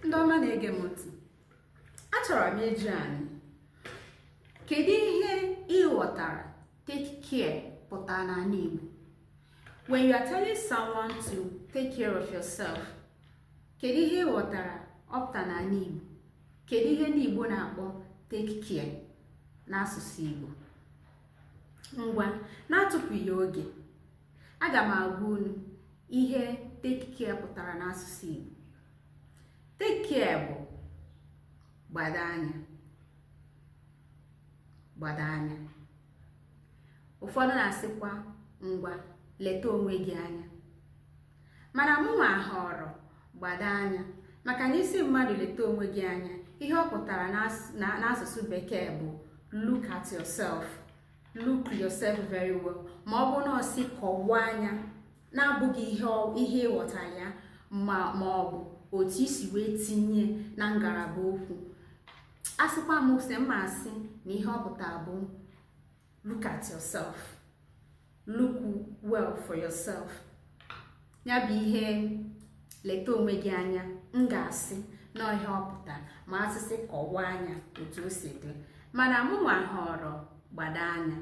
ndị ọma na-ege m ntị achọrọ m ịjụ anyị kedu ihe ị ghọtara take care pụtara n'ala Igbo when you are telling someone to take care of yourself kedu ihe ị ghọtara ọ pụta n'ala Igbo kedu ihe ndị Igbo na-akpọ take care n'asụsụ Igbo ngwa na-atụpụghị oge aga m agwa unu ihe take care pụtara n'asụsụ Igbo take care bụ gbado anya gbado anya ụfọdụ na-asịkwa ngwa leta onwe gị anya mana mụnwa họrọ gbado anya maka na ị sị mmadụ leta onwe gị anya ihe ọ pụtara n'asụsụ bekee bụ look at yourself look yourself very well ma ọ bụ na ọ sị kọwaa nya na-abụghị ihe ị ghọtara ya ma ọ bụ otu i si wee tinye na ngalaba okwu asịkwa m sị m ma asị na ihe ọ pụta bụ look at yourself look well for yourself ya bụ ihe leta onwe gị anya m ga-asị na ọ ihe ọ pụtara ma a sị sị kọwaa nya otu o si dị mana mụnwa họrọ gbado anya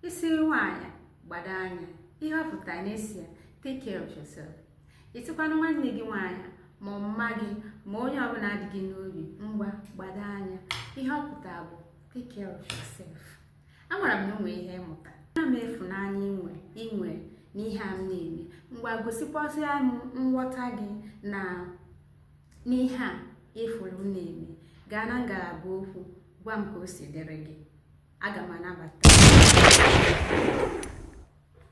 ị sị nwaanyị gbado anya ihe ọ pụtara na ị sị ya take care of yourself ị sịkwanụ nwanne gị nwaanyị ma ọ mma gị ma onye ọbụla dị gị n'obi ngwa gbado anya ihe ọ pụtara bụ take care of yourself amara m na o nwere ihe ị mụta ana m ịfụnanya i nwe n'ihe a m na-eme ngwa gosikwasịa m nghọta gị na n'ihe a ị fụrụ m na-eme gaa na ngalaba okwu gwa m ka o si dịrị gị aga m anabata